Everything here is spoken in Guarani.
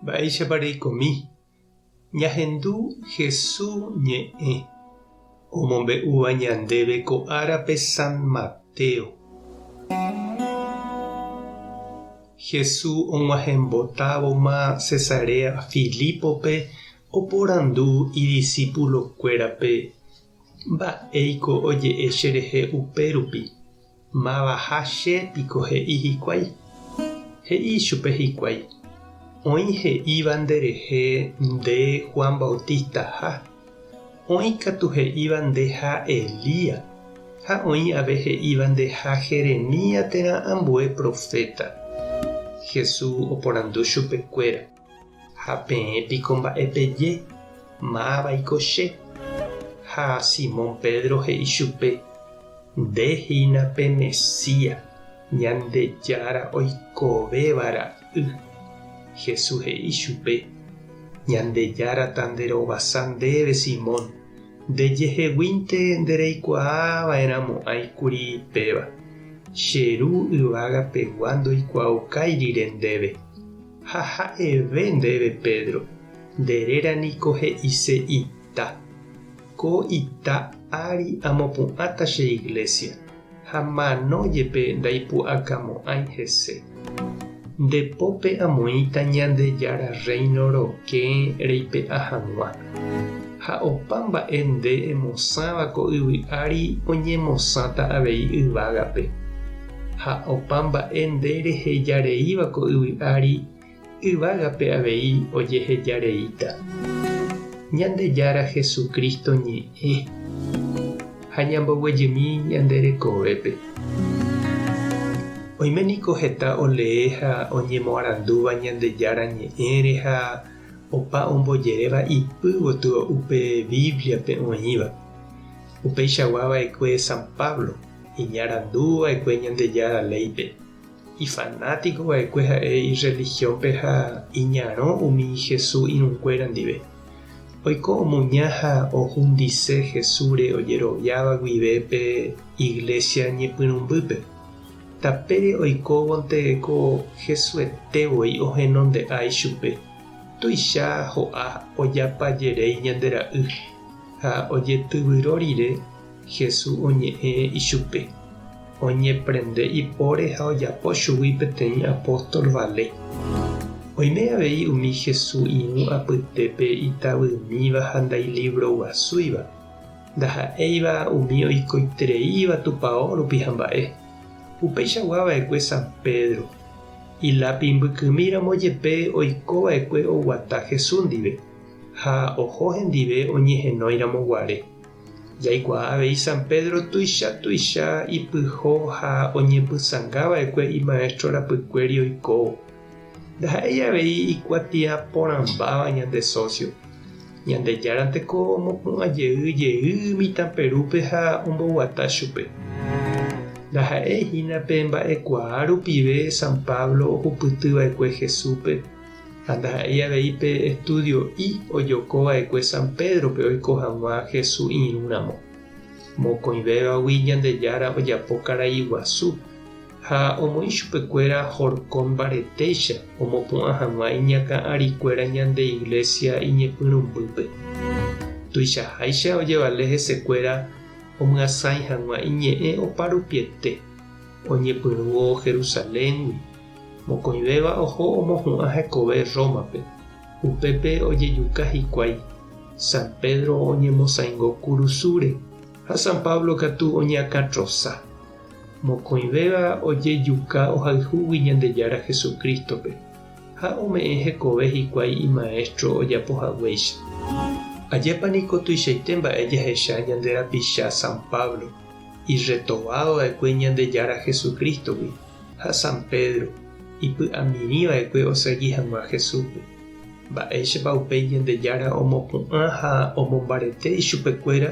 Mba'éichapa reikomi ñahendu Hesu ñe'ẽ omombe'úva ñandéve ko árape San Mateo. Hesu og̃uahẽmbotávoma Cesarea Filipope oporandu idisipulokuérape, Mba'éiko oje'e cherehe upérupi? Mávaha che piko he'i hikuái? He'i ichupe hikuái, Oĩ he'íva nderehe nde Juan Bautistaha, oĩ katu he'íva ndeha Elías, ha oĩ ave he'íva ndeha Jeremías térã ambue proféta. Jesús oporandu chupekuéra. Ha peẽ piko mba'e peje, Máva'iko che? Ha Simón Pedro he'i chupe, Nde hína pe Mesía, Ñandejára oikovéva ra'y. Jesús he'i chupe, Ñandejára ta nde rovasa ndéve, Simón, nde jeheguínte nde reikuaa va'erã mo'ãi kuri péva. Che Ru yvága pegua ndoikuaaukai rire ndéve. Ha ha'eve ndéve, Pedro, nde réra niko he'ise ita. Ko ita ári amopu'ãta che iglésia, ha mano jepe ndaipu'akamo'ãi hese. Nde pópe amoĩta Ñandejára Rréino rokẽ reipe'a hag̃ua. Ha opa mba'e nde emosãva ko yvy ári oñemosãta avei yvágape. Ha opa mba'e nde reheja reíva ko yvy ári, yvágape avei ojeheja reíta. Ñandejára Jesucristo ñe'ẽ. Ha ñamboguejymi ñande rekovépe. Oime niko heta olee ha oñemoarandúva Ñandejára ñe'ẽre ha Opa ombojeréva ipy gotyo upe Bíbliape oĩva. Upeichagua va'ekue San Pablo, iñarandu va'ekue Ñandejára léipe. Ifanátiko va'ekue ha'e irrelihiónpe ha iñarõ umi Jesús irũnguéra ndive. Oiko omuña ha ohundise Jesúsre ojeroviáva guive pe iglésia ñepyrũmbýpe. Tapére oikóvonte ko Hesuete voi ohenondea ichupe, tuicha ho'a ojapa jerei ñande ra'y, ha ojetyvyro rire Hesu oñe'ẽ ichupe, oñeprende ipóre ha ojapo chugui peteĩ apóstol vale. Oime avei umi Hesu irũ apytépe itavymíva ha ndailivroguasúiva. Ndaha'éiva umi oikoitereíva tupao rupi hamba'e. Upeichagua va'ekue San Pedro, ilápi mbykymi ramo jepe oiko va'ekue oguata Jesús ndive ha oho hendive oñehenói ramo guare. Jaikuaa avei San Pedro tuicha tuicha ipyho ha oñepysãnga va'ekue imaestro rapykuéri oikóvo. Ndaha'éi avei ikuatia porãmbáva ñande sósio. Ñandejára teko omopu'ã jey jey mitãperúpe ha omboguata chupe. Ndaha'éi hína pe mba'ekuaa rupive San Pablo ohupyty va'ekue Jesúspe, ha ndaha'éi avei pe estúdio'i ojoko va'ekue San Pédrope oiko hag̃ua Jesús irũ ramo. Mokõivévagui Ñandejára ojapo karai guasu. ha omoĩ chupekuéra horko mbaretéicha omopu'ã hag̃ua iñakã'arikuéra ñande Iglésia iñepyrũmbýpe. Tuichaháicha ojevale hesekuéra omyasãi hag̃ua iñe'ẽ oparupiete, oñepyrũvo Jerusaléngui, mokõivéva oho omohu'ã hekove Rómape, upépe ojejuka hikuái, San Pedro oñemosãingo kurusúre ha San Pablo katu oñeakãtrosa. Mokõivéva ojejuka ohayhúgui Ñandejára Jesucristo-pe, ha ome'ẽ hekove hikuái imaestro ojapo haguéicha. Ajépa niko tuichaite mba'e jahecha ñande rapicha San Pablo, irretovadova'ekue Ñandejára Jesucristo-gui, ha San Pedro, ipy'amirĩva'ekue osegi hag̃ua Jesús-pe! Mba'éichapa upéi Ñandejára omopu'ã ha omombarete ichupekuéra